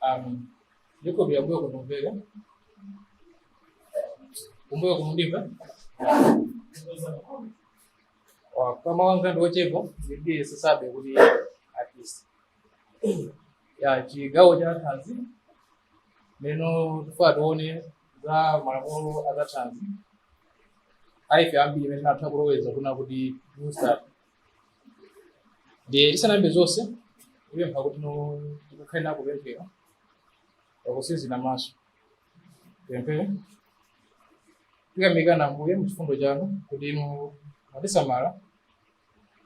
Amen. Yuko vya mbuyo kunumbele. Kumbuyo kumundimba. Kwa kama wangu ndo chevo, ndiye sasabe kuli at least. Ya chigawo cha thanzi. Neno tufaa tuone za malamulo a za thanzi. Aife ambiri imene tinatha kuloweza kuna kuti booster ndiye isanayambe zonse kupempha kuti no- tikakhale nako kupemphera pakutsinzina maso pemphere tikuyamikani ambuye mchifundo chanu kuti inu mwatisamala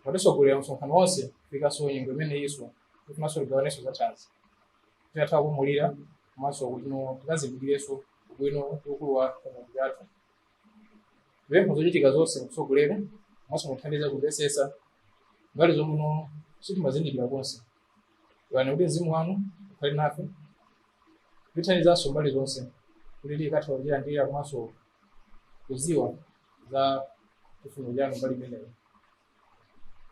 mwatitsogolera msonkhano wonse kufikanso nyengo imeneyi so tifunanso tigawanenso za thanzi tikathe kuphunzira komanso kuti no tikazindikirenso ubwino ndi ukulu wa Mulungu wathu Tipempha zochitika zonse mutsogolere komanso mutithandize kumvetsetsa mbali zomwe mwina sitimazindikira konse. Lolani kuti mzimu wanu ukhale nafe kutithandizanso mbali zonse kuti tikathe kulandira komanso kudziwa za chifuniro chanu mbali imeneyo.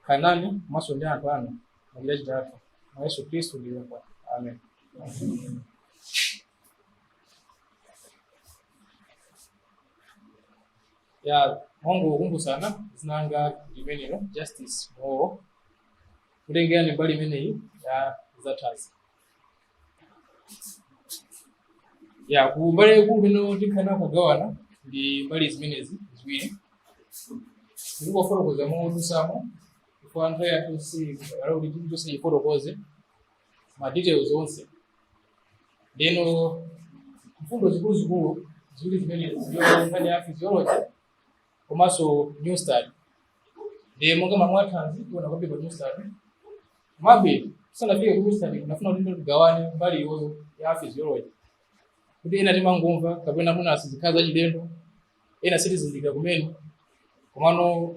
Khalani nane komanso ndi anthu anu machitachita athu mwa Yesu Khristu ndipempha. Amen. ya mongokumbutsana dzina langa limenelo justice mughogho kutengera ndi mbali imeneyi ya zathanzi ya ku mbali yaikulu imene tikhala tikugawana ndi mbali zimenezi ziwiri ndikufotokoza modutsamo chifukwa nthawi yathu si kuti chilichonse tifotokoze ma details onse Ndeno mfundo zikuluzikulu ziwiri zimenezi ndiyo nkhani ya physiology komanso new start. Ndiye monga mamwathanzi tiona kwambiri pa new start. Komabe tisanafike ku new start tinafuna kuti tigawane mbali iyoyo ya physiology. Kuti ena timangomva kapena mwina sizikhala zachilendo, ena sitizindikira kumene. Komano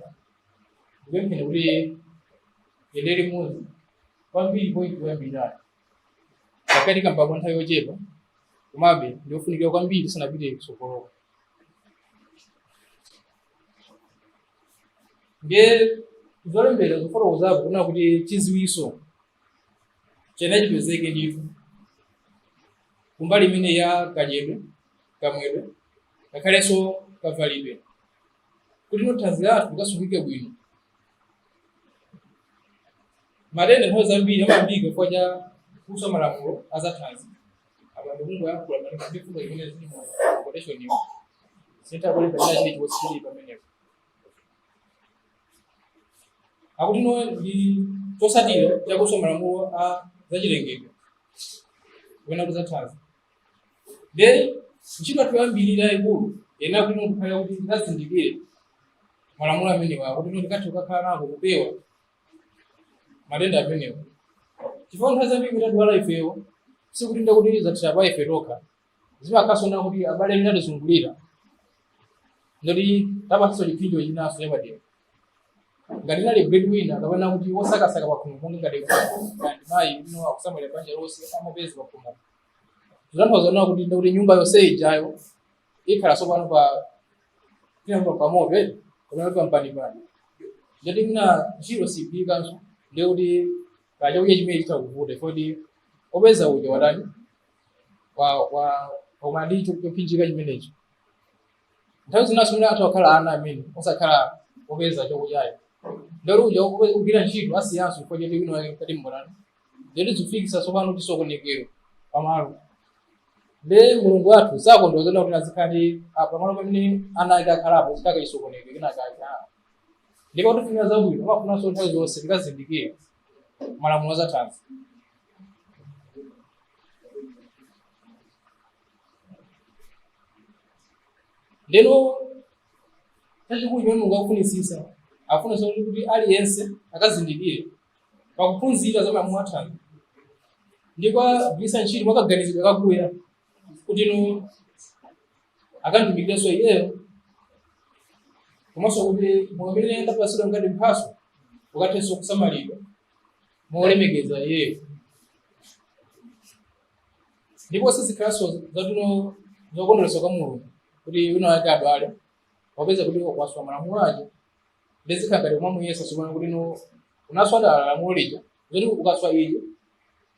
ndipempheni kuti yendere muzi kwambiri poyambirira pakati kamba kwa nthawi yochepa komabe ndi ofunikira kwambiri sanapite kutsogoloko ndiye zolembera zofotokozapo kunena kuti chidziwitso chenicheni chipezeke ndithu kumbali imeneyi ya kadyedwe kamwedwe ngakhalenso kavalidwe kuti no thanzi lathu likasungike bwino matenda nthawi zambiri amayambika chifukwa cha kuswa malamulo a zathanzi apa ndikungoyankhula malinga ndi mfundo imene zili mu quotation iyo sindikulipa china chili chilichonse pamenepo akuti no ndi chotsatira cha kuswa malamulo a zachilengedwe kapena kuzathanzi nde ntchito yathu yoyambirira yaikulu kunena kuti tikhale kuti tizindikire malamulo amenewa kuti no tikathe kukhala nako kupewa matenda amenewo chifukwa nthawi zambiri kuti adwala ifewo sikuti ndekuti zathera pa ife tokha zimakasonera kuti abale amene atizungulira ndekuti tawapatsanso chiphinjo chinanso chapadera ngati nali breadwinner kapena kuti wosakasaka pakhomo monga ngati ngati mayi uno akusamalira banja lonse amapeza pakhomo zitanthauza kunena kuti ndekuti nyumba yonse ijayo ikhala tsopano pa pamoto eh kapena pampanipani ndekuti mwina ntchito sipitanso ndekuti kachakudya chimene chitavute kodi opeza uja watani wa wa omali chopinjika chimenecho nthawi zinanso mwina athu akhala ana amene osakhala opeza chakudyayo ndekuti uja kugwira ntchito asiyanso chifukwa choti wina wake mkati mbolani zoti zifikitsa tsopano chisokonekero pamalo nde mulungu wathu sakondweretsedwa kuti azikhala pamalo pamene ana ake akhalapo zitakhala chisokonekero chinachake ndi potifunira zabwino amafunanso nthawi zonse tikazindikire malamulo azathanzi ndeno chachikulu chimene mulungu akufunitsitsa afunanso kuti aliyense akazindikire pakuphunzira za malamulo athanzi ndi kuwagwiritsa ntchito mwakaganizidwe kakuya kuti no akamutumikirenso iyeyo komanso kuti moyo umene ndapatsidwa ngati mphatso ukathenso kusamalidwa molemekeza iyeyo ndipo sizikhalanso zinthuno zokondweretsa kwa mulungu kuti wina wake adwale popeza kuti waswa malamulo ake nde zikhala ngati kumamuyesanso kunena kuti no unaswa dala lamulo lija zoti ukaswa ili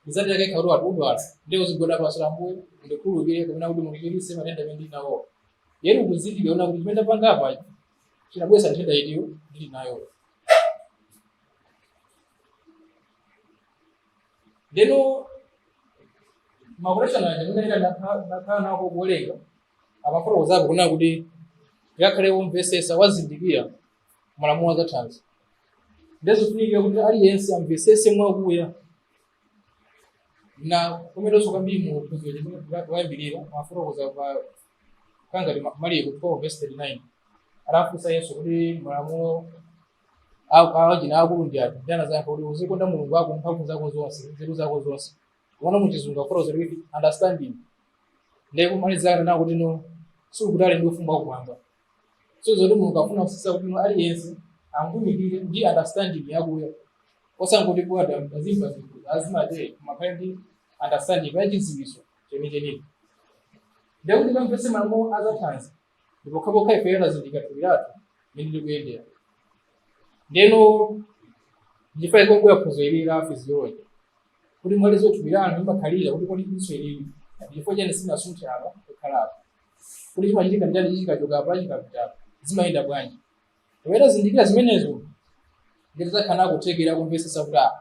uzatitake khauti wati udwala nde uzigwada pansi ambuye ndikhululukire kapena kuti mundichiritse matenda amene ndili nawo yet ukuzindikira kunena kuti chimene ndapanga apa chinabweretsa nthenda iyiyo ndili nayo ndeno ma quotation aja amene ndakhala ndikuwerenga amafotokozapo kunena kuti akakhale womvesesa wozindikira malamulo azathanzi ndezofunikira kuti aliyense amvesese mwakuya na kumeneso kwambiri mu phunziro loyambirira amafotokoza pa kangati maliko 4 verse 39 anafunsa yesu kuti malamulo awachina akulu ndi ati nde anadzayankha kuti uzikonda mulungu wako ndi mphamvu zako zonse nzeru zako zonse koma muchizungu afotokoza kuti understanding ndiye kumalizira kunena kuti no sikutali ndi ufumu wakumwamba so zoti mulungu akufunitsitsa kuti no aliyense amutumikire ndi understanding yakuya osangoti bola azimva zinthu azimatee koma akhale ndi understanding yachidziwitso chenichenicho ndekuti amvetse malamulo azathanzi ndi pokhapokha ifeyo tazindikira thupi lathu mmene likuyendera ndeno ndi chifukwa chake kwakuya phunziro ili la physiology kuti mwali za thupi lanu limakhalira kuti kodi diso ilili chifukwa chani silinasunthe apa kukhala apa kuti chimachitika nchani chikachoka apa chikapita apa zimayenda bwanji Iwe utazindikira zimenezo nde tizakhala kuthekera kumvetsetsa kuti ah,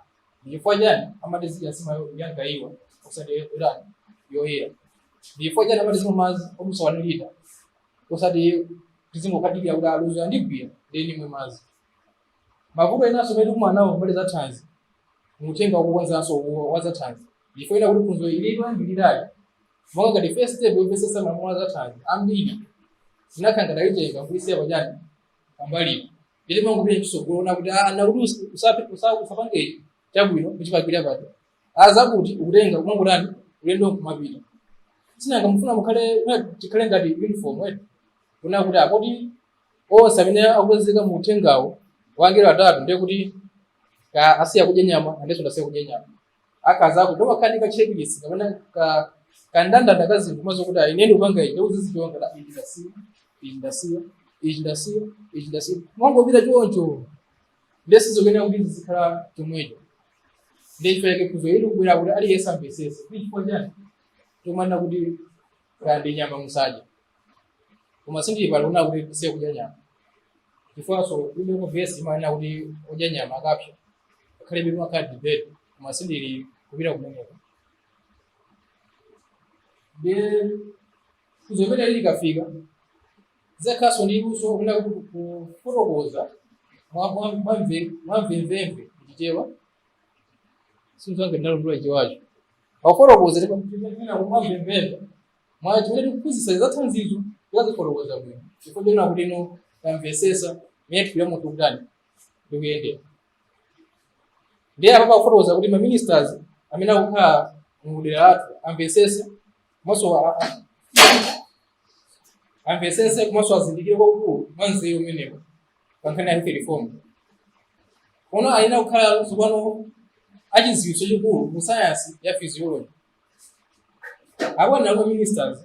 ndi chifukwa chani amati zidya nsima yo- yamgaiwa osati irani yoyera ndi chifukwa chani amati zimwa madzi odutsa one litre osati tizingokadikira kuti ah ludzu landigwira nde ndimwe madzi mavuto enanso amene tikumana nawo mbali za thanzi mu uthenga wokonzanso uwo wa za thanzi ndi chifukwa chakuti phunziro ilidwa ndilidali monga ngati first step yomvetsetsa malamulo a zathanzi ambiri tinakhala ngati tayitenga kuisiya pachani pambalipo nde timangopita kutsogolo kunena kuti ah, na kuti usi- usape- usa- usapange chabwino kuchipakira pato azakuti nkutenga kumangotani ulendo nkumapita sinanga mufuna mukhale mwina tikhale ngati uniform wetu kunena kuti akuti onse amene akupezeka mu uthengawo wa angelo atatu ndiye kuti ka- asiya kudya nyama nanenso ndasiya kudya nyama akazi ako ndio wakati ka checklist kapena ka kandandanda ka zinthu zimenezo kuti ayi mmene ukupanga ine uzizichonga la ichi ndasiya ichi ndasiya ichi ndasiya ichi ndasiya nkumangopita choncho nde sizoyenera kuti zizikhala chomwecho nde chifukwa chake phunziro ili likubwera kuti aliyense amvesese ndi chifukwa chani tikumanena kuti kaya ndi nyama musadye koma sindili pano kunena kuti tisiye kudya nyama chifukwanso kulibe verse imanena kuti odya nyama akapsa ngakhalebe pamakhala debate koma sindili kupita kumeneko nde phunziro ili likafika uzakhalanso ndi luso kunena kuti kufotokoza mwa- mwa- mwamve- mwamvemvemve chichewa si nzanga ndalondola chichewacho Wafotokoza ndipo kuchitira kumazembeza. Mwa chimene ukuphunzitsa za thanzizo wazifotokoza bwino. Chifukwa chonena kuti no tamvesesa mmene thupi la munthu likutani likuyendera. Ndiye apa akufotokoza kuti ma ministers amene akukhala mu dera lathu amvesese komanso a- amvesese komanso azindikire kwakukulu mwa nzeru umenewo pa nkhani ya health reform pano ayenera kukhala tsopano achidziwitso chachikulu mu sayansi ya physiology akamanena kuti ministers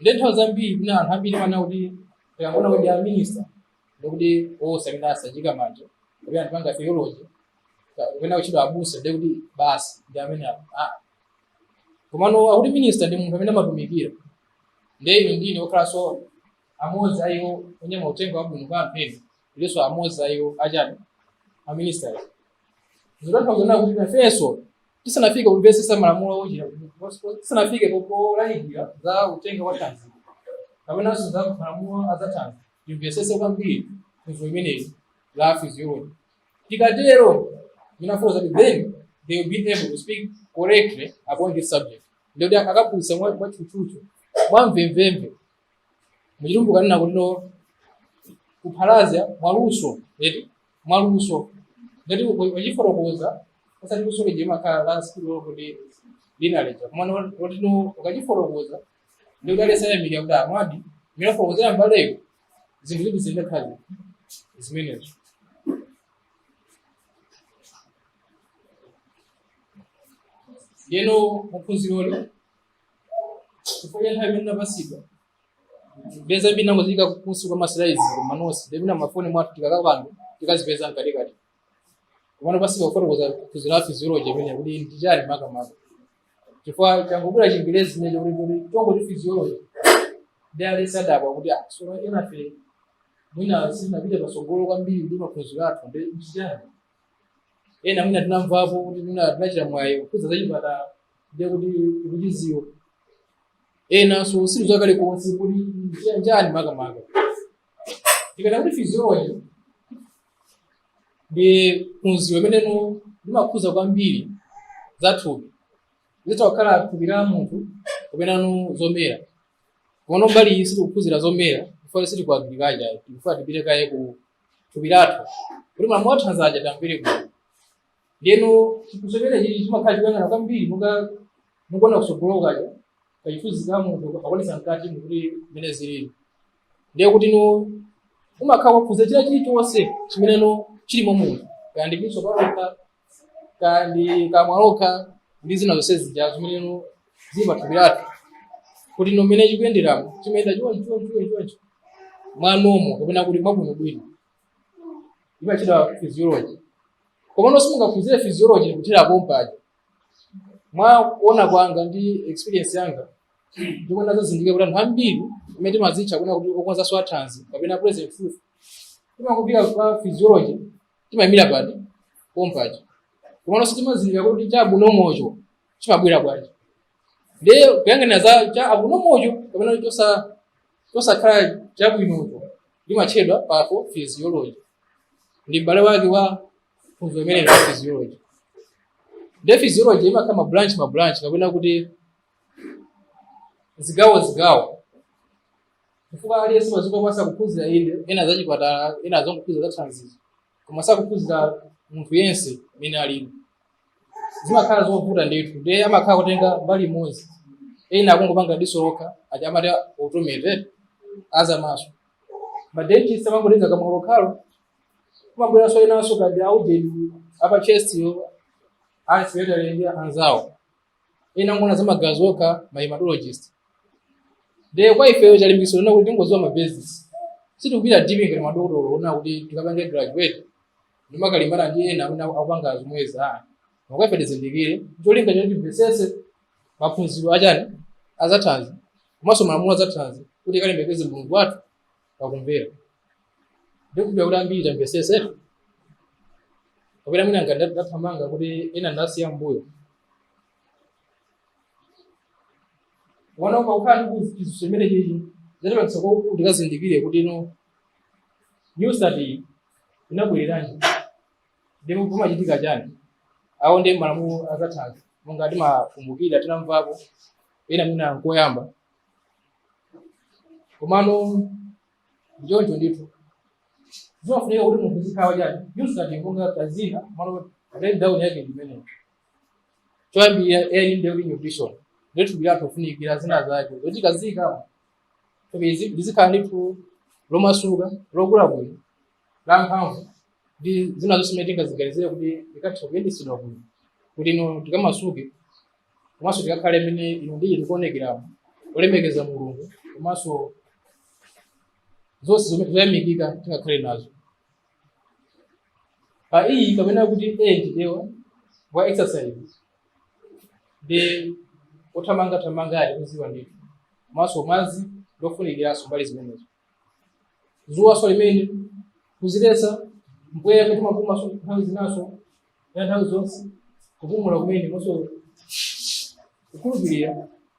nde nthawi zambiri kuna anthu ambiri amaona kuti tikangonena kuti a minister ndikuti amene anasanjika manja kuti anthu opanga theology kapena kutchedwa abusa ndikuti basi ndi amene apo Ah, komano akuti minista ndi munthu amene amatumikira ndiye inu ndi ine okhalanso amodzi a iwo onyamula uthenga wabwino kwa anthu ena tilinso amodzi a iwo achani aminista ayi zotanthauza kunena kuti nafenso tisanafike kumvetsetsa malamulo ochita tisanafike polalikira za uthenga wa thanzi kapenanso za malamulo a za thanzi timvetsetse kwambiri phunziro limeneli la physiology tikatero ndinafotokoza kuti then they will be able to speak correctly about this subject ndiye kuti akaphunzitsa mwa- mwatchutchutchu mwamvemvemve muchitumbuka amanena kuti no kuphalaza mwaluso eti mwaluso ngati ukachifotokoza osati luso lija limakhala la skill kuti linaleja komano kuti no ukachifotokoza ndiye kuti aliyense ayamika kuti amvadi mmene anafotokozera mbaleyo zinthu ziti zidakhala zimenezo ndiyeno muphunziroli chifukwa cha nthawi imene ndapatsidwa kupeza mbiri ndangoziika kunsi kwa ma slides ma notes ndiye pena mafoni mwathu tikakapanga tikazipeza mkatikati komano ndapatsidwa kufotokoza phunziro la physiology imene kuti ndi chani makamaka chifukwa changobwera chingerezi chimenecho kuti kuti tangoti physiology ndiye aliyense adabwa kuti ah so enafe mwina sitinapita patsogolo kwambiri ndi maphunziro athu ndi ndi chani ena mwina tinamvapo kuti mwina tinachita mwayi kuphunzira zachipatala ndiye kuti tikuchidziwa enanso sili zakale konse kuti nchani makamaka tikanena kuti physiology ndi phunziro limene no limakhudza kwambiri za thupi litha kukhala thupi la munthu kapena no zomera komano mbali iyi sitikuphunzira zomera chifukwa sitili kwa agriculture tikufuna tipite kaye ku thupi lathu kuti malamulo athanzi aja tamvere bwino ndiyeno chiphunziro chimenechi chimakhala chikuyang'ana kwambiri monga mukuona kutsogolo kaja kachithunzi ka munthu akuonetsa mkatimu kuti mmene zilili ndiye kuti no umakhala ukuphunzira china chilichonse chimene no chili mwa munthu kaya ndi diso palokha kaya ndi kamwa lokha ndi zina zonse zija zimene no zili pathupi lathu kuti no mmene chikuyenderamo chimayenda chonchi chonchi chonchi chonchi mwa normal kapena kuti mwabwinobwino timachitcha physiology komano simungaphunzire physiology kuthera pompaja mwa kuona kwanga ndi experience yanga ndipo nazazindikira kuti anthu ambiri amene timazitcha kuna kuti okonza zathanzi kapena present truth timangopita kwa physiology timayimira pati pompaja komano sitimazindikira kuti cha abnormalcho chimabwera bwanji ndiye kuyang'ana za cha abnormalcho kapena chosa- chosakhala chabwinocho limatchedwa pathophysiology ndi m'bale wake wa phunziro limeneli la physiology ndiye physiology imakhala mabranch mabranch kapena kuti zigawo zigawo chifukwa aliyense mazuka kwa sakuphunzira inde ena za chipatala ena azongophunzira za thanzizo koma sakuphunzira munthu yense mene alimo zimakhala zovuta ndithu ndiye amakhala akutenga mbali imodzi ena akungopanga diso lokha ati amati optometrist aza maso madentist amangotenga kamwa lokhalo kumabweranso enanso kadi aujeni apa chestiyo ansiwetalenge anzawo ena angoona za magazi okha ma hematologist ndiye kwa ifeyo chilimbikitso lina kuti tingoziwa ma basics sitikupita deep ngati madokotolo ona kuti tikapange graduate nkumakalimbana ndi ena amene akupanga zomwezi a kwa ife tizindikire cholinga choti timvetsetse maphunziro achani azathanzi komanso malamulo azathanzi kuti tikalemekeze mulungu wathu pakumvera ndikhulupira kuti ambiri tamvesese kapena mwina ngati ndathamanga kuti ena ndasiya mbuyo wanaomba kukhala ndi kuchizo chimene chizatipangisa kuti tikazindikire kuti newstart inabwereranji ndipo kumachitika chani awo ndi malamulo azathanzi monga timakumbukira tinamvapo ena mwina nkoyamba komano ndichoncho ndithu zimafunika kuti munthu zikhawa chani newstart monga kazina komano breakdown yake ndimeneyo choyambirira ayi ndi kuti nutrition ndi thupi lathu likufunikira zina zake zoti kazika izi lizikhala ndithu lomasuka lokula bwino la mphamvu ndi zina zonse zimene tingaziganizire kuti likatha kuyendetsedwa bwino kuti no tikamasuke komanso tikakhale mmene inu ndi ine tikuonekeramo olemekeza mulungu komanso zonse zomwe zoyamikika tingakhale nazo pa e kapena kuti a ndiye wa wa exercise ndi othamangathamanga ali kuziwa ndithu komanso madzi ndofunikiranso mbali zimenezo zuwaso limene kuziletsa mpweya kuti timapumaso nthawi zinaso ya nthawi zonse kupumula kumene komanso kukhulupirira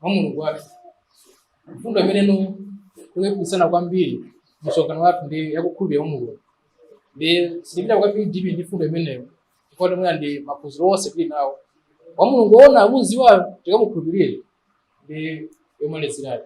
mwa mulungu wathu mfundo imene no tikuipikisana kwambiri msonkhano wathu ndi yakukhulupirira mwa mulungu nde sitipita kwambiri deep ndi mfundo imeneyo chifukwa mwina ndi maphunziro onse tili nawo wa mulungu woona akuziwayo tikamukhulupirire ndi yomalizirayo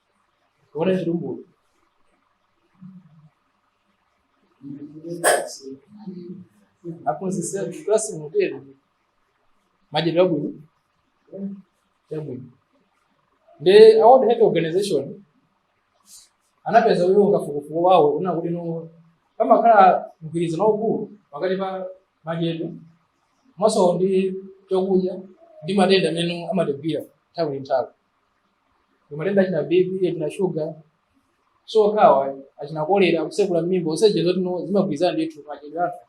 Orezi rumburu. Aphunzitsi athu klasi motero. Madyedwe abwino. Yabwino. Nde a World Health Organization anapeza iwo mkafukufuku wawo kunena kuti no pamakhala mgwirizano waukulu pakati pa madyedwe komanso ndi chakudya ndi matenda amene amatigwira nthawi ndi nthawi kumatenda achina bp achina shuga sokhawa achina kolera kusekula mmimba useje zoti no zimagwirizana ndithu madyedwe athu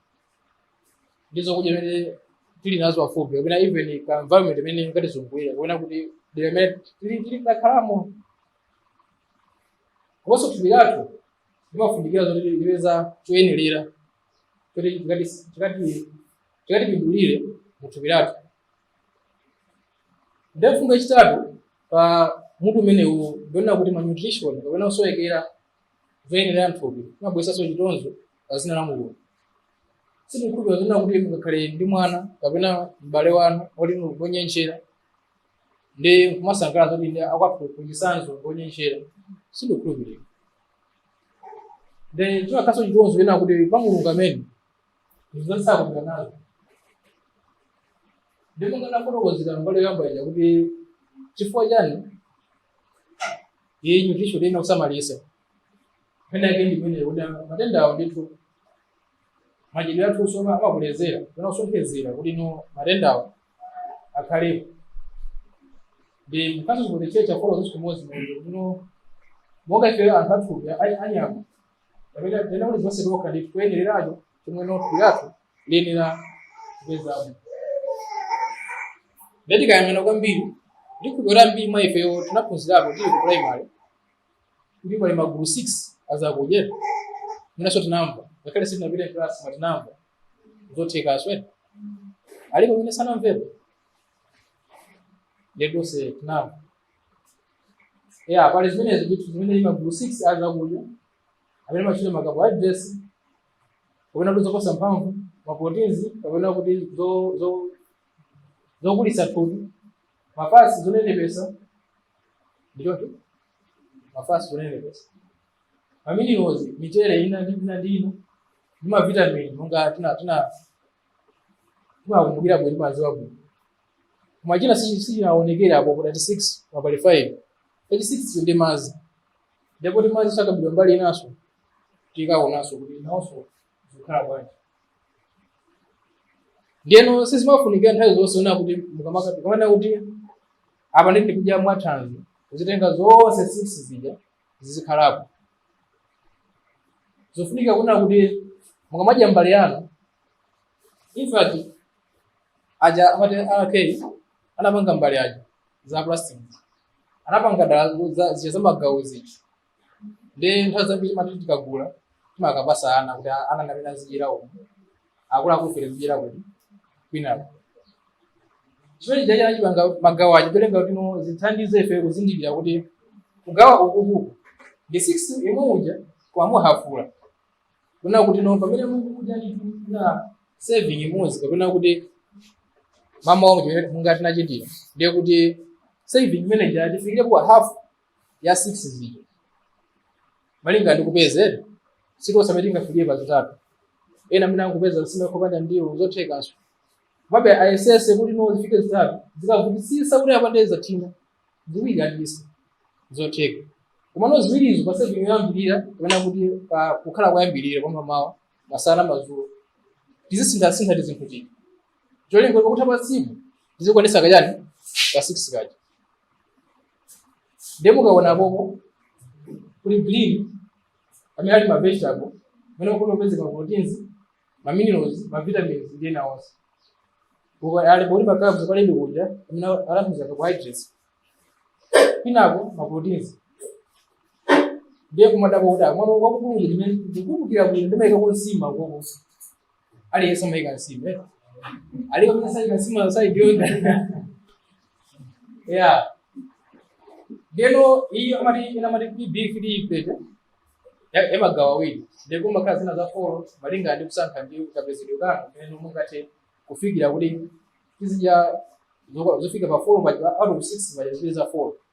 ndi zokudya zimene tili nazo pafupi kapena even ka environment imene ingatizungulira kapena kuti dera imene tili tili takhalamo komanso thupi lathu limafunikira zoti lipeze choyenerera choti chikati chikati chikatipindulire mu thupi lathu nde mfundo yachitatu pa mutu umenewu ndionena kuti malnutrition kapena kusowekera zoyenera mthupi kumabweretsanso chitonzo pa dzina la mulungu sindikukhulupirira zonena kuti mungakhale ndi mwana kapena m'bale wanu oti ngonyentchera ndi kumasangalala zoti ndi akwathu mwachitsanzo ngonyentchera sindikukhulupirira nde chimakhalanso chitonzo chonena kuti pa mulungu amene zosakhudza nazo ndipo ndinafotokozera mbali yoyamba ija kuti chifukwa chani nutrition ina kusamalisa pena yake ndimene kuda matenda awo ndithu madyedwe athu usoma amakolezera pena kusonkhezera kuti no matenda awo akhalepo ndi mkazi zikutechecha folo zonse kumodzi muno monga ife anthu athupi anyama pamene tinena kuti zonse tokha ndi kuyenereracho chomwe no thupi lathu liyenera kupezamo nde tikayang'ana kwambiri ndikhulupirira ambiri mwa ifeyo tinaphunzirapo tili ku primary kuti pali magulu 6 azakudya mwinanso tinamva ngakhale sitinapite klasi koma tinamva zothekaso ena alipo mwina sanamvepo nde tonse tinamva ya pali zimenezo ndithu zimene ndi magulu 6 a zakudya amene amatchedwa ma carbohydrates kapena kuti zopatsa mphamvu maproteins kapena kuti zo- zo- zokulitsa thupi mafasi zonenepesa ndi choncho mafasi zonenepesa maminerals michere ina ndi ina ndi ino ndi mavitamini monga tina tina timakumbukira bwino timaziwa bwino koma china si- sichinaonekere apo ku 36 mbale 5 36 ndi madzi ndipo kuti madzi sakaikidwa mbali inanso tikaonanso kuti nawonso zikukhala bwanji ndiyeno sizimafunikira nthawi zonse ona kuti mukamaka- mukamana kuti apa ndi ndikudya mwathanzi kuzitenga zonse six zija zizikhalapo zikufunika kunena kuti mukamadya mbale yanu infact aja amati ak anapanga mbale aja za plastic anapanga dala za- zija zamagawo zija ndiye nthawi zambiri timati tikagula timakapasa ana kuti ana ndi amene azidyera umu akuluakulu ife tikudyera kuti kwinako chimene chija anachipanga magawo aja cholinga kuti no zithandize ife kuzindikira kuti kugawa ukuku ndi 6 yemwe uja koma mu half kunena kuti no pamene mukudya ndithu serving imodzi kapena kuti mama wangu chimene mungatinachitira ndiye kuti serving imeneyo atifikire kwa half ya 6 zija malinga ndi kupeza si tonse amene tingafike pa zitatu ena amene akupeza nsima kopanda ndiwo zothekanso komabe ayesese kuti no zifike zitatu zikavutisisa kuti apange zathina ziwiri ndi zotheka komano ziwirizo pa serving yoyambirira kapena kuti pa kukhala koyambirira kwa mamawa masana mazulo tizisinthasintha tizinthu tija cholinga kuti pa tsiku tizikwanisa kajani ka 6 kaja ndiye mukaona kokoko kuli green amene ali mavegetable amene kuti mupeza maproteins maminerals mavitamins ndi ena onse ali bodi makabo pali zakudya amene alambiza carbohydrates pinako maproteins ndiye kumadabwa kuti mwana wakukulu ndikumbukira bwino ndimayika kunsima koko aliyense amayika nsima eh? alipo amene sayika nsima sayikonda ya ndeno iyi amati ina amati kuti plate ya- yamagawa awiri ndipo kumakhala zina za folo malinga ndi kusankha ndi kapezedwe kanu pamene mungathe kufikira kuti tizidya zoko- zofika pa folo paja out of six paja zipeza folo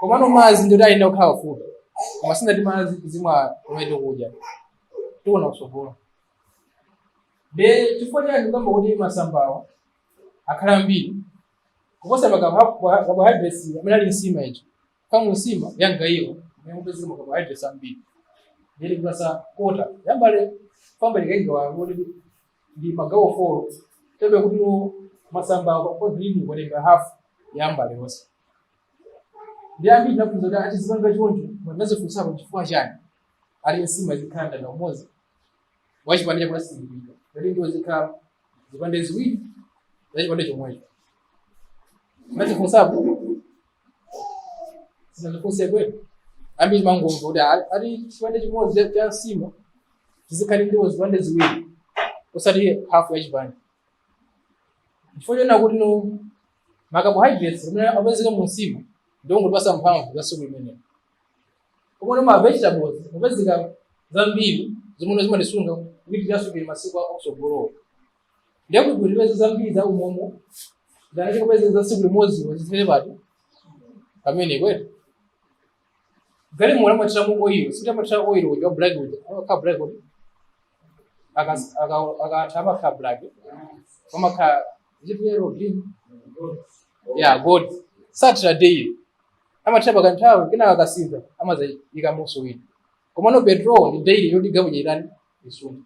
komano madzi ndoti ayenera kukhala pafupi koma sindinati madzi tizimwa pamene tikudya tiona kutsogolo ndiye chifukwa chani kukamba kuti masambawa akhala ambiri kuposa macarbohydrates amene ali nsima icho kama nsima yangayiwa mumapezeka macarbohydrates ambiri yeli kulasa kota yambale kwamba likainga wakuti ndi magawo folo chabe kuti masamba kwa green kutenga hafu ya mbale yonse ndi ambiri nafunza kuti ati zipanga choncho munadzifunsapo chifukwa chani ali nsima izikhala mtanda umodzi wachipande chakuti asindikika kuti ndiwo zizikhala zipande ziwiri za chipande chomwecho munadzifunsapo Simunadzifunse eti. Ambiri mumangomva kuti ali- ali chipande chimodzi cha nsima zizikhala ndiwo zipande ziwiri osati hafu ya chipande. Chifukwa chonena kuti no macarbohydrates amene apezeka mu nsima ndiwo ngotipasa mphamvu za tsiku limenelo. Komano ma vegetables apezeka zambiri zimene zimatisunga kuti tiyatsukire masiku akusogolowo. ndiye kuti ndipeze zambiri za umomo zana tikupeze za tsiku limodzi wazizimene pati pamene kwete galimoto amathira mu oil sitimathira oil uja wa black uja amakhala black uja aka aka akatha amakhala black kama ka zipi yellow or green yeah gold sathira daily amathira pakanthawi kena akasintha amadzaikamonso wina komano petrol ndi daily yoti galimoto ija itani isunthe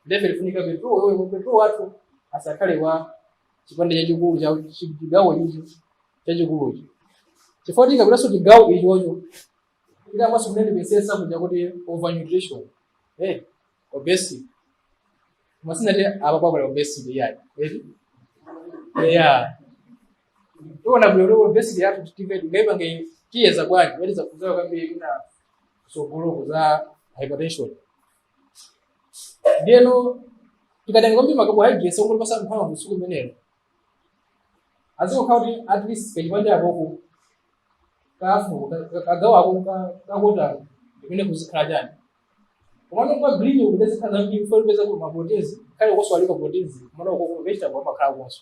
ndife tifunika petrol yoyo mu petrol wathu asakhale wa chipande chachikulu cha chi- chigawo icho chachikulucho chifukwa tikapitaso chigawo ichocho tikamaso kunene pesesa kuja kuti overnutrition eh obesity koma sindinati apapa kuli obesity iyayi eti yeah tiona bwino lero obesity yathu titive tingaipange tiyeza bwanji kuti zafunzayo kwambiri kutsogoloko za hypertension ndiyeno tikatenga kwambiri macarbohydrates otipatsa mphamvu tsiku limenelo azikokhala kuti at least kachipande akoko kafu kagawo ako ka kota imene kuzikhala chani komano kwa green kuja kuzikhala zambiri chifukwa tipeza kuti maproteins kale koso alipo proteins komano uko ku vegetable amakhala konso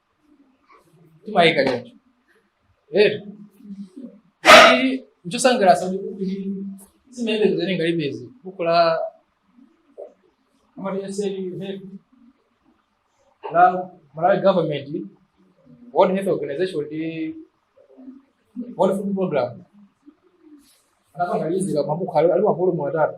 timayika choncho ero kuti nchosangalatsa kuti buku ili limene tikuwerenga lipezi buku la a ministry of health la malawi government world health organization ndi world food program anapanga lizika mabuku ali ali mavolumu atatu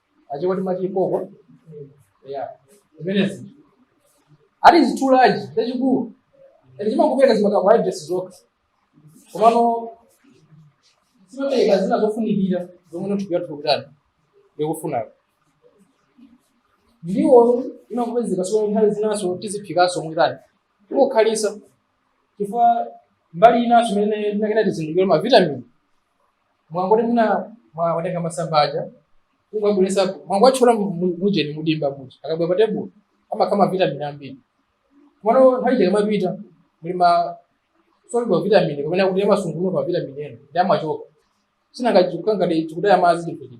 achewa timati koko ya zimenezi ati zitulaji chachikulu ati chimangopereka zima carbohydrates zokha komano simapereka zina zofunikira zomwe thupi lathu kutani ndikufunayo ndiwo imangopezeka so nthawi zinaso tiziphikanso mwitani kukhalitsa chifukwa mbali inaso imene tinanena tizindikire mavitamini mwangoti muna mwatenga masamba aja kungabwelesa mwangotchola mujeni mudimba muja akabwera pa tebulo amakhala mavitamini ambiri komano nthawi chake mapita muli ma soluble mavitamini kapena kuti amasungunuka mavitamini ena ndiye amachoka sinangachikukangati chikutaya madzi chinthu chiti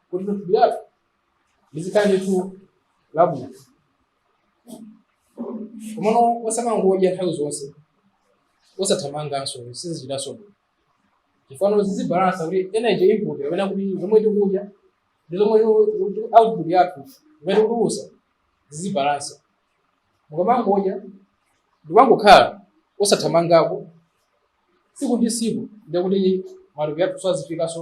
kuti thupi lathu lizikhala ndithu labwino komano osamangodya nthawi zonse osathamanganso sizichitanso bwino chifano zizibalansa kuti energy input kapena kuti zomwe tikudya ndi zomwe tiku- output yathu imene tikutulusa zizibalansa mukamangodya ndi kungokhala osathamangako tsiku ndi tsiku ndikuti matupi athu sazifikanso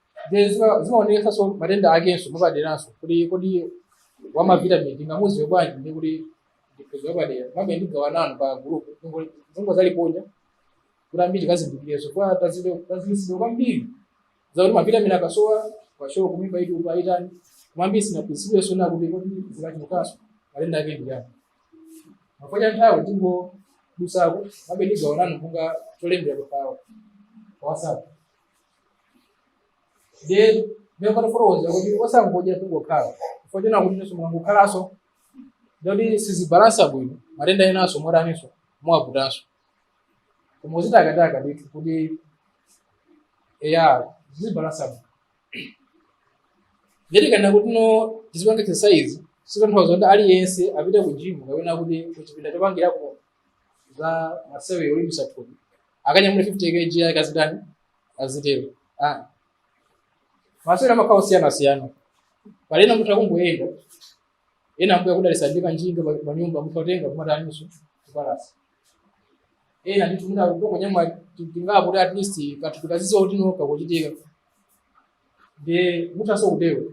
Then zima- zimaonetsanso matenda akenso mwapaderanso kuti kodi wamavitamini tingamuziwe bwanji ndi kuti ndipeza wapadera maybe ndigawanano pa gulupu zomwe zaliponya kuti ambiri kazindikireso kwa tazilisiro kwambiri zakuti mavitamini akasowa kwashiorkor kumimba iti upa itani koma ambiri sinaphunzidweso na kuti kodi zikachulukanso matenda ake ndi yani chifukwa cha nthawi tingodusako maybe ndigawana nanu kunga cholembera pawo kwa WhatsApp ndiye ndiyopata fotokoza kuti osangodya kungokhala chifukwa china kuti inenso mukangokhalanso ndikuti sizibalansa bwino matenda enanso mwataninso mwaputanso koma muzitakataka ndithu kuti eya zizibalansa bwino ndikanena kuti no tizipanga exercise sizitanthauza kuti aliyense apite ku gym kapena kuti kuchipinda chopangirako za masewero olimbisa thupi akanyamule 50 kg akazitani azitero ah. masewero amakhala osiyanasiyana pali ena mutha kungoyenda ena Ambuye kudalisa ndi kanjinga pa- pa nyumba mutha kutenga kumataninso kupalasa ena ndithu mutha kutokonyamwa tingapo kuti at least kathupi kaziziwa kuti noka kuchitika ndiye muthanso kutero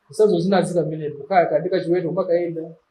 kusazo zinazika mmenepo kaya kandika chiweto kumakayenda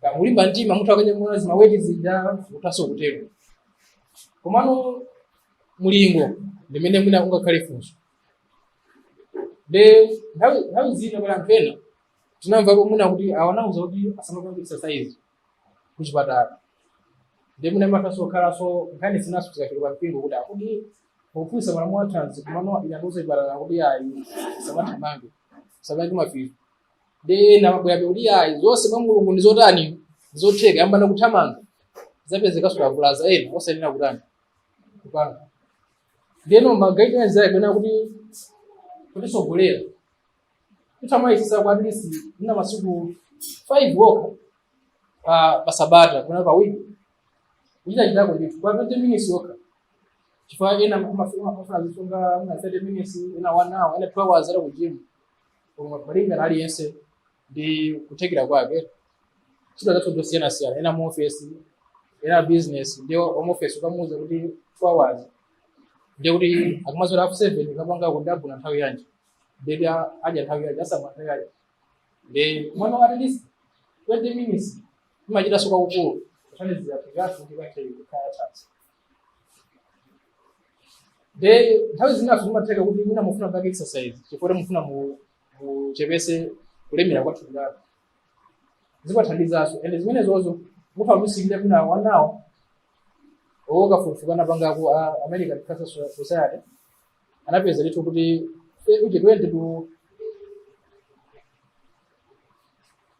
kamalimba mtima muthu akanyamula zimaweti zija muthaso kutero komano mulingo ndimene mwina ungakhale funso de nthawi nthawi zina pala anthu ena tinamvapo mwina kuti awanauza kuti asamapange exercise kuchipatala ndi mwina muthanso kukhalanso nkhani zinanso zikachuluka mpingo kuti akuti pofunsa malamulo athanzi komano anatiuza kuchipatala kuti ayi musamathamange samange mafizo nde ena amabwerabe kuti ayi zonse mwa mulungu ndizotani ndizotheka ayambana kuthamanga zapezekanso akavulaza ena osayenera kutani kupanga ndeno magaidance ake ena kuti kutisogolera kuti muyesetse kwa at least ina masiku five okha pa pa sabata kuna pa wiki kuchita chitako ndithu kwa 20 minutes okha chifukwa ena amafuna amafuna zisonga ena 30 minutes ena 1 hour ena 2 hours ali kujimu koma malingana aliyense ndi kuthekera kwake ntchito zathu ndosiyanasiyana ena mu ofesi ena business ndi home office ukamuuza kuti two hours ndiye kuti akumadzuka half seven kapanga kundabuna nthawi yanji nde adya nthawi yanji asamba nthawi yanji ndi mwana wa at least twenty minutes imachita nso kwakukulu kuthandizira kuti anthu ndikathe kukhala thanzi de nthawi zinanso zimatheka kuti mwina mufuna kupanga exercise chifukwa mufuna mu- muchepese kulemera kwa thupi lanu zimathandizanso and zimenezozo mutha kuzisilira mwina anawo akafukufuku anapangako a american cancer So- society anapeza ndithu kuti eh, uche 20 to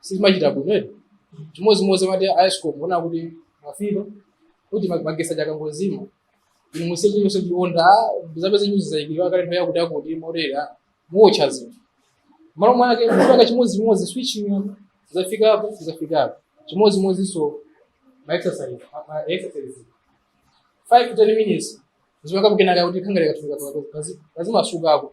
sizimachita bwino eti chimodzimodzi muti a escom muona kuti mafizo kuti ma- magesi achakangozima inu musiye chilichonse chionda mudzapeze nyuzi zayikidwa kale nthawi yakuti akuti morera muotcha zinthu malo mwake mpaka chimodzimodzi switching yanu zafikapo zafikapo chimodzimodzinso ma exercise ma- ma exercise 5 to 10 minutes zimakhalapo kenaka kuti kathupika kazimasukapo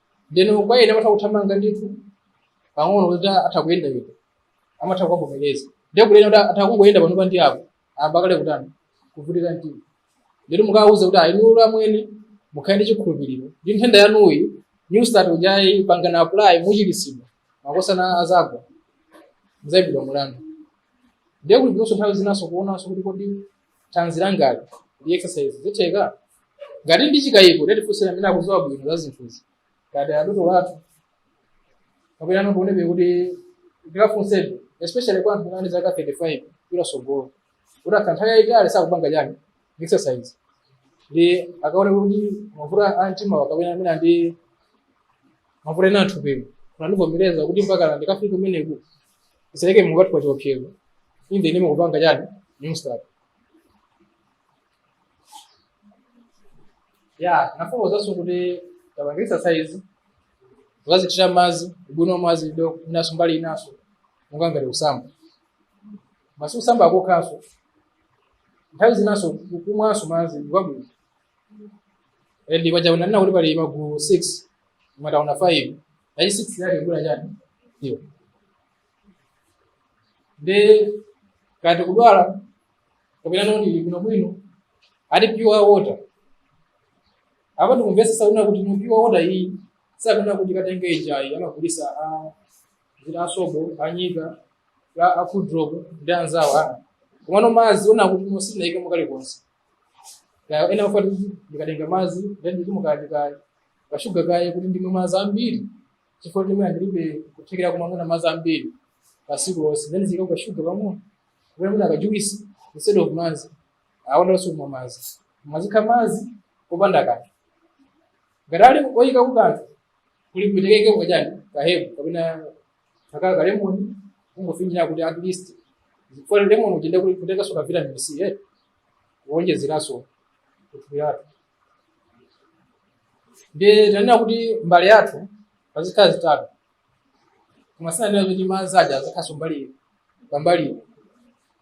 ndeno kwa ena amatha kuthamanga ndithu pang'ono kuti atha kuyenda yenda amatha kukavomereza ndiye kuli ena kuti atha kungoyenda panopa ndi apo ayamba kale kutani kuvutika mtima ndiye mukawauza kuti ayi inu amwene mukhale ndi chikhulupiriro ndi nthenda yanuyi new start ujayi pangani apply muchiritsidwa makosana adzagwa mudzayimbidwa mulandu ndiye kuli kunonso nthawi zinanso kuonanso kuti kodi thanzi langali ndi exercise zitheka ngati ndili ndi chikayiko titafunsira amene akudziwa bwino za zinthuzi ngati adotolo athu kapena anotionebe kuti ndikafunsebe especially kwa anthu ali zaka 35 kupita tsogolo kuti atha nthawi yayitali sakupanga chani exercise ndi akaone kuti mavuto a mtima kapena amene ali ndi mavuto ena a m'thupimu angandivomereze kuti mpaka ndikafika kumeneko zisaike mulungu wathu pa chiopsezo inde ine mukupanga chani New Start ya nafotokozanso kuti tapanga exercise kuzithira mazi ubwino wa mazi ndiye inaso mbali inaso monga ngati kusamba mazi sikusamba kokhaso nthawi zinaso kumwanso mazi nkwabwino ndiye mwachaona ndina kuti pali magulu 6 koma taona 5 Paja 6 yake ija chani? Sio. Ndiye kuti kudwala kapena ndili bwino bwino ati pure water. Apa tikumvesesana kuti ndi pure water iyi sakunena kuti katenge ijayi amagulisa a Sobo a Nyika a Cool Drop ndi anzawo ena. Komano mazi oti musanaikemo kalikonse. Kaya ena amati ndikatenga mazi then ndiikamo kaya kashuga kaye kuti ndimwe madzi ambiri chifukwa kuti mwina ndilibe kuthekera kumamwa madzi ambiri pasiku lonse then ndiziikamo kashuga pang'ono kapena mwina kajuwisi instead of madzi awonso kumwa madzi azikhala madzi opanda kanthu ngati ali oyikako kanthu kuli kotheka kachani ka herb kapena kakhale kalemoni kungofinyira kuti at least chifukwa lemoni uja ndiye kuti ukutenganso ka vitamin c eh kuonjezeranso kuthupi lathu ndiye tinanena kuti mbale yathu pazikhala zitatu koma sinanena kuti madzi aja azikhalanso mbali pambali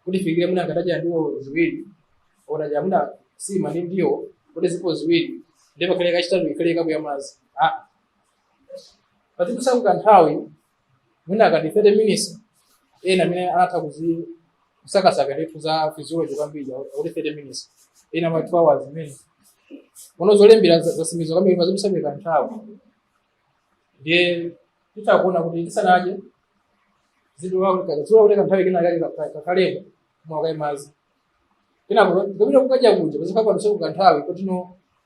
kuti fikire mwina nkadadya ndiwo ziwiri ndadya mwina sima ndi ndiwo kuti zilipo ziwiri ndiye pakhale kachitatu ikhale kapu ya madzi Ah. pazidutsako ka nthawi mwina akati 30 minutes ena amene anatha kuzi- kusakasaka ndithu za physiology kwambiri akuti 30 minutes ena ma 2 hours ine ndilibe zolembera za- zotsimikiza kwambiri koma pazidutsa kanthawi ndiye titha kuona kuti tisanadye pazidutsako kanthawi kena kake takhala tamwa kaye mazi kenako kupita kukadya kuja pazikhalaponso kanthawi kuti no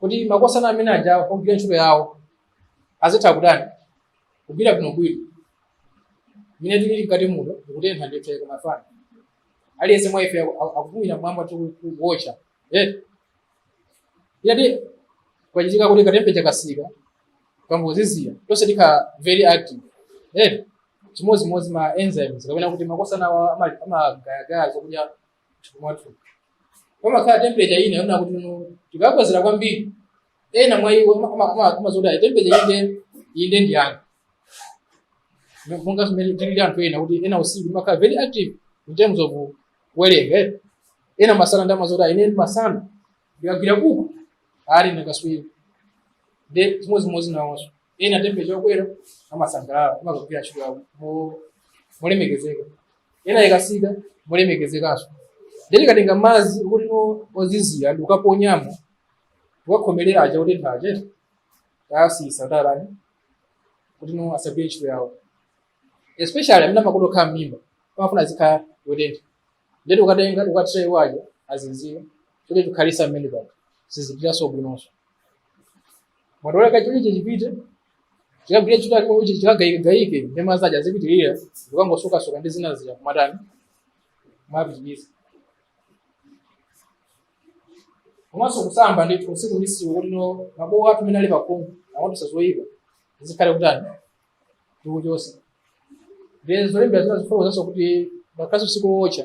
kuti makosana amene aja agwire ntchito yawo azitha kutani kugwira bwinobwino mmene tilili mkati muno mukutentha ndithu kuma fan aliyense mwa ife aku- akupumira mmwamba kukuwotcha eh ngati kwachitika kuti katempecha kasika ka mphepo yozizira tonse tikhala very active eh chimodzimodzi ma enzymes kapena kuti makosana awa ama- amagayagaya zokudya mwathu pamakhala temperature ina yonena kuti no tikakwezera kwambiri ena mwa iwo amazonda temperature inde inde ndi monga mmene tilili anthu ena amati ine usiku ndimakhala very active in terms of kuwerenga eh. ena masana ndiye amazonda ine ndi masana ndikagwira buku ali akatswiri ndiye chimodzimodzi nawonso ena temperature yokwera amasangalala amakagwira ntchito yawo mo- molemekezeka ena ikatsika molemekezekanso nde tikatenga madzi kuti no- ozizira n'kukaponyamo ukakhomerera aja kuti ntchito tayasiyitsa kutani kuti no asagwire ntchito yawo especially amene amakonda kukhala m'mimba amafuna azikhala yotentha nde tikatenga n'kukathira aja ozizira choti chikhalisa mmene pano sizipitaso bwinonso m'matole kachichi chipite chikagwire ntchito yake kuti chikagaike ndi madzi aja azipitirira zikangosukasuka ndi zina zija kumatani kumapititsa komanso kusamba ndithu tsiku ndi tsiku kuti no mabowo athu amene ali pakhungu awa amatulutsa zoyipa tikhale kutani tikuchotsa ndi zolembera zina zimafotokozanso kuti ngakhale usiku wootcha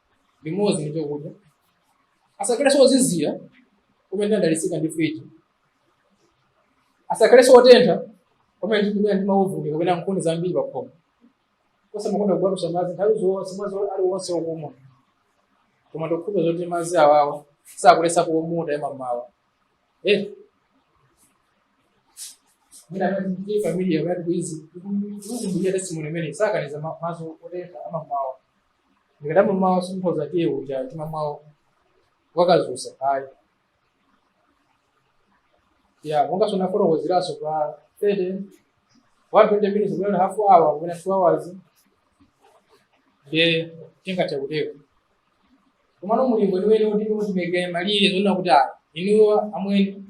limodzi ndi chakudya asakhalenso ozizira pomwe tadalitsika ndi fridge asakhalenso otentha kumene ndikumene ndi mauvuni kapena nkhuni zambiri pa khomo osamakonda kubwatutsa madzi nthawi zonse madzi aliwonse okumwa koma ndikhulupa zoti madzi awawa sakuletsa kumwa otentha m'mamawa eh mina ndi familia yathu izi ndiye testimony imene sakaniza madzi otentha m'mamawa ndikadamwa mmawa sitingoza tiyi uja timamwa wakadzutsa ayi ya monga tinafotokozeranso pa 30 120 minutes kapena half hour kapena 2 hours ndiye tingathe kutero komano mulingo weniweni kuti mutimeke malire zoona kuti inu amwene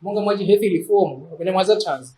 monga mwachi health reform kapena mwazathanzi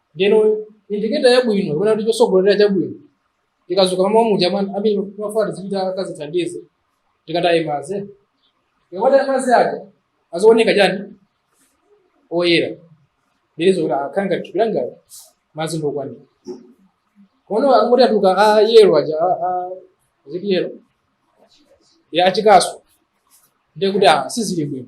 ndeno indicator yabwino kapena kuti chotsogolera chabwino tikadzuka mmawa muja pamene timafuna tizipita tikadzithandize tikataye madzi tikataya madzi aja azioneka chani oyera ndidziwe kuti akhale ngati thupi langa madzi ndokwanira komano akangoti atuluka a yellow aja a- a- ziti yellow ya achikasu ndiye kuti ah, sizili bwino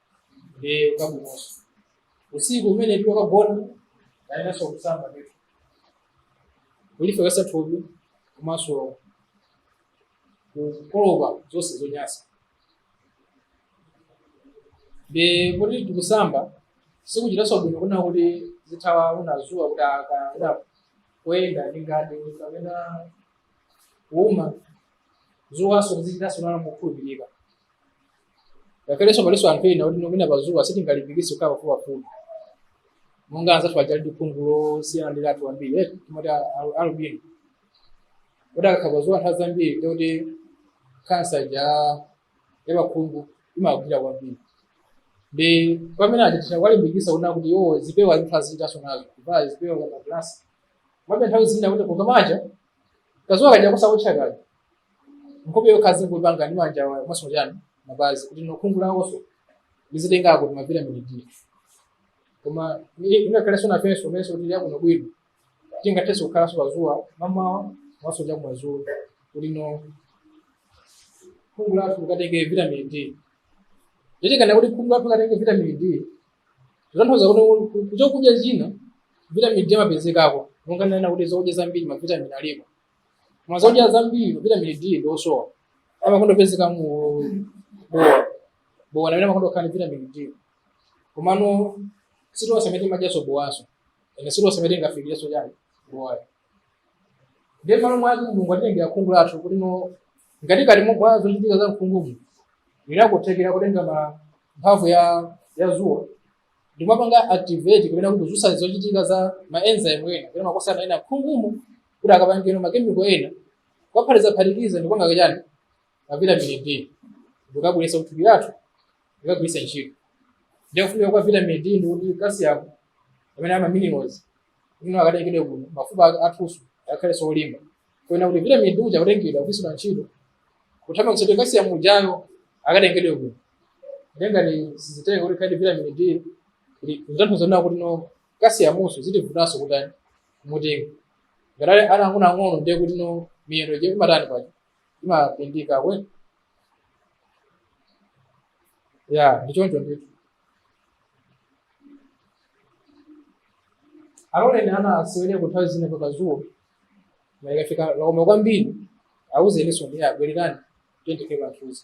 eh nkwabwinonso usiku pamene tiwukagona tiyeneranso kusamba ndithu kulifewetsa thupi komanso kukolopa zonse zonyansa nde kuti tikusamba tikuchitanso bwino kunena kuti tizithawa dzuwa kuti aka una kuyenda ndi ngati kapena kuuma dzuwanso tizichitanso nalo mokhulupirika ngakhalenso palinso anthu ena kuti nomina pazuwa sitingalimbikitse kukhala pafupipafupi monga anzathu aja ali ndi khungu losiyana ndi lathu ambiri eh, timati a- a- albino kuti akakhala pazuwa nthawi zambiri ndekuti kansa ja yapakhungu imagwira kwambiri ndi pamene timati kuwalimbikisa kunena kuti iwo zipewa zinthu azikhalaso nazo kuvala zipewa kaya magalasi mwabe nthawi zina kuti kukamaotcha kazuwa kaja kusawotcha kaja nkhope yokha azingopanga ndi manja awa komanso chani mapazi kuti no khungu lawonso lizitengako kuti mavitamini d koma ingakhalenso nafenso amenenso khungu lathu lili bwino tingathenso kukhalanso pazuwa mamawa komanso chakumadzulo kuti no khungu lathu likatenge vitamini d ndikati kuti khungu lathu likatenge vitamini d kutanthauza kuti kuchokudya china vitamini d amapezekako monga ndanena kuti zokudya zambiri mavitamini alipo koma zakudya zambiri vitamini d ndiosowa amakonda kupezeka mu bowa bowa ndi amene amakonda kukhala ndi vitamini d komano sitonse amene timadyaso bowaso ene sitonse amene tingafikireso chani bowayo ndiye malo mwake mulungu anatilengera khungu lathu kuti no ngati kati mwa zochitika za mkhungumu lili ndi kuthekera kutenga ma mphamvu ya ya zuwa ndikumapanga activate kapena kuti kudzusa zochitika za maenzyme ena kapena ma process ena mkhungumu kuti akapangeno makemiko ena kuwaphatizaphatikiza ndikupanga kachani kavitamini d ndikabweresa kuthupi lathu ndikagwirisa ntchito ndiye kufunika kwa vitamini d ndikuti calcium amene ma minerals ija akatengedwe kuti no mafupa aka athuso akhalenso olimba kunena kuti vitamini d uja akutengedwa kugwiritsidwa ntchito kuthandiza kuti calcium ujayo akatengedwe kuti no nde ngati sizitenga kuti kaja vitamini d kuti zitanthauza kunena kuti no calciumnso itivutanso kutani kumutenga ngati ali ana ang'ono ang'ono ndiye kuti no miyendo ija imatani paja imapindika kwe ya ndi choncho ndithu aloleni ana asewere nthawi zina pakazuwa koma ikafika laomba kwambiri auzeninso ayi bwererani tiyeni tikhale pamthunzi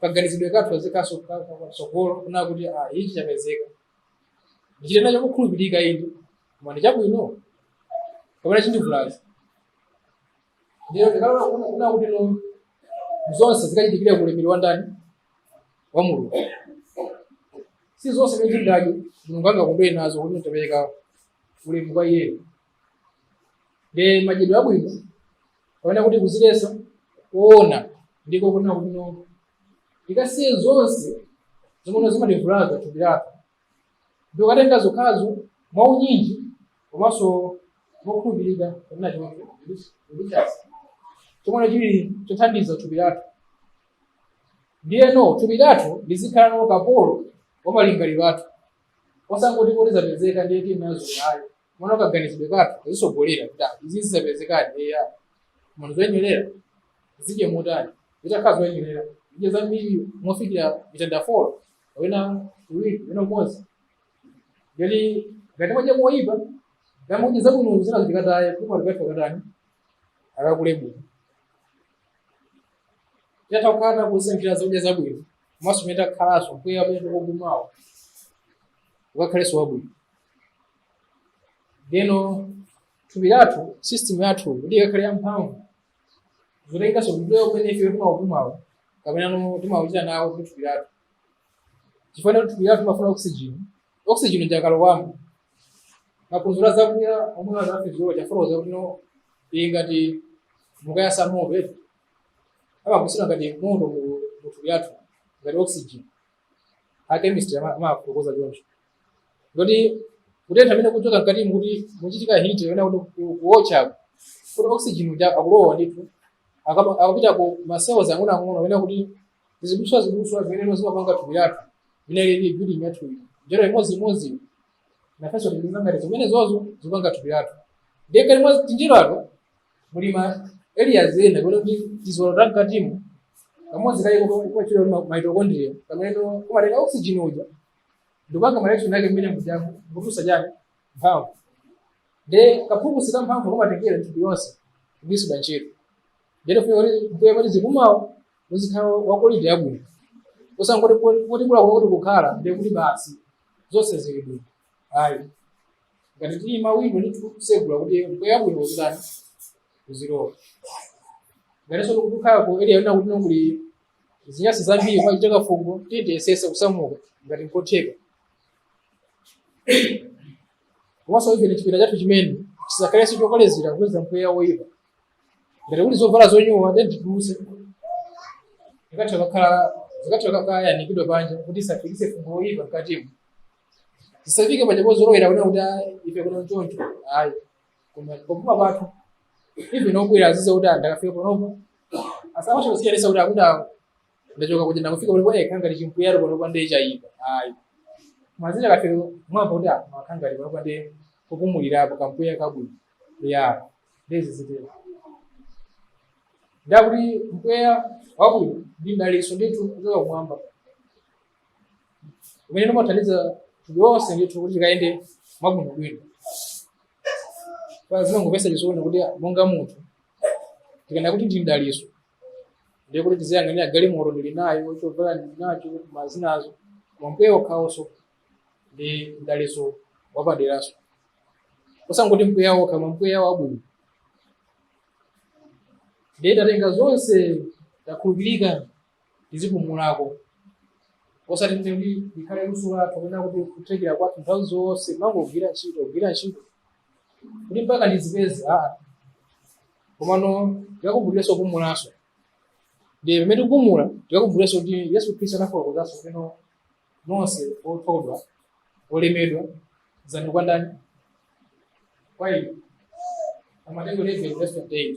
kaganizidwe kathu kaziikaso patsogolo kunena kuti ah, ichi chapezeka ndichite nacho kukhulupirika inde koma ndi chabwino kapena chindivulaza ndiye tikalola kunena kunena kuti no zonse zikachitikire ku ulemerero wa ndani wa mulungu si zonse zimene tingadye mulungu angakondwere nazo kuti tapereka ulemu kwa iyeyo ndi madyedwe abwino kapena kuti kudziletsa koona ndiko kunena kuti no tikasiye zonse zimene zimativulaza thupi lathu ndikukatenga zokhazo mwaunyinji komanso mokhulupirika kapena chonse kuli chomwe chili chothandiza thupi lathu ndiyeno thupi lathu lizikhala no kapolo wa malingaliro athu osangoti kuti zapezeka ndiye tinazo ayi mwina kaganizidwe kathu kazitsogolera kuti ah, izi zapezekadi eya munthu zoyenerera adye motani zitakhala zoyenerera adye zambiri mofikira mitanda folo kapena iwiri kapena umodzi ngati ngati mwadya moyipa namudya zabwino zina zitikataye koma tikatha katani akakule bwino titatha kukhala takusankhira zakudya zabwino komanso mene takhalanso mpweya umene tikupumawo ukakhalenso wabwino ndeno thupi lathu system yathu kuti ikakhale yamphamvu zotenganso kupewa kumene ife timaupumawo kapena no timauchita nawo kuti thupi lathu chifukwa kuti thupi lathu timafuna oxygen oxygen uja akalowamo maphunziro azakudya omwe a za physiology amafotokoza kuti no ili ngati mukayasa moto eti amakuzira ngati moto mu mu thupi lathu ngati oxygen a chemistry ama- amafotokoza choncho kuti kutentha kumene kumachoka mkati mukuti mukuchitika heat yona kuti ku- kuotcha kuti oxygen uja akulowa ndithu akama- akapita ku macells ang'onoang'ono amene kuti ziduswa ziduswa zimene zimapanga thupi lathu imene lili building yathu ili njerwa imodzimodzi nafenso tili ngati zimene izozo zimapanga thupi lathu ndiye kali mwa tinjerwa ito muli ma areas ena kapena kuti tiziwalo ta mkatimo kamodzi kake kamatchedwa kuti mitochondria kamene kumatenga oxygen uja ndikupanga mareaction ake mmene mujamo ndikutulutsa chani mphamvu nde kaphukusi ka mphamvu kumatengedwa mthupi lonse kugwiritsidwa ntchito ndene funa kuti mpweya tizipumawo uzikhala wa quality yabwino osangoti kuti bola kuti kukhala ndiye kuti basi zonse zili bwino ayi ngati tili mawindow ndi kutsegula kuti mpweya wabwino uzitani uzilowa ngatinso tikukhala ku area yona kuti kuli zinyasi zambiri kukuchitika fungo tiyesetse kusamuka ngati nkotheka komanso ife chipinda chathu chimene chisakhalenso chokolezera kupeza mpweya woyipa ngati kuli zovala zonyowa then titulutse zikatha kakhala zikatha kayanikidwa panja kuti zisafikitse fungo woyipa mkatimo tisafike paja pozolowera kuti kuti ah, ife kuno choncho ayi koma popuma pathu ife nobwera adziwe kuti ndakafika panopo azimatha kusiyanisa kuti akuti awo ndachoka kuja ndakufika panopo eh kanga lichimpuyaro panopo ndiye chayipa ayi mazina kafika mwamva kuti ah makanga ali panopo ndiye kupumulirapo kampweya kabwino eya ndiye zizitero ndiye kuti mpweya wabwino ndi dalitso ndithu kuchoka kumwamba umene umathandiza thupi lonse ndithu kuti likayende mwabwino bwino pa zimangomvetsa chisoni kuti monga munthu tikanena kuti ndi mdalitso ndiye kuti tiziyang'anira galimoto ndili nayo chovala ndili nacho koma zinazo koma mpweya wokhawonso ndi mdalitso wapaderanso osangoti mpweya wokha koma mpweya wabwino ndiye tatenga zonse akhulupirika tizipumulako osati kuti ndi ndikhale luso lathu kapena kuti kuthekera kwathu nthawi zonse kumangogwira ntchito kugwira ntchito kuti mpaka ndizipeze aa komano tikakumbukirenso kupumulanso ndiye pamene tikupumula tikakumbukirenso kuti yesu khristu anafotokozanso kumene nonse othodwa olemedwa idzani kwa ndani kwa ine a mateyu 11 verse 28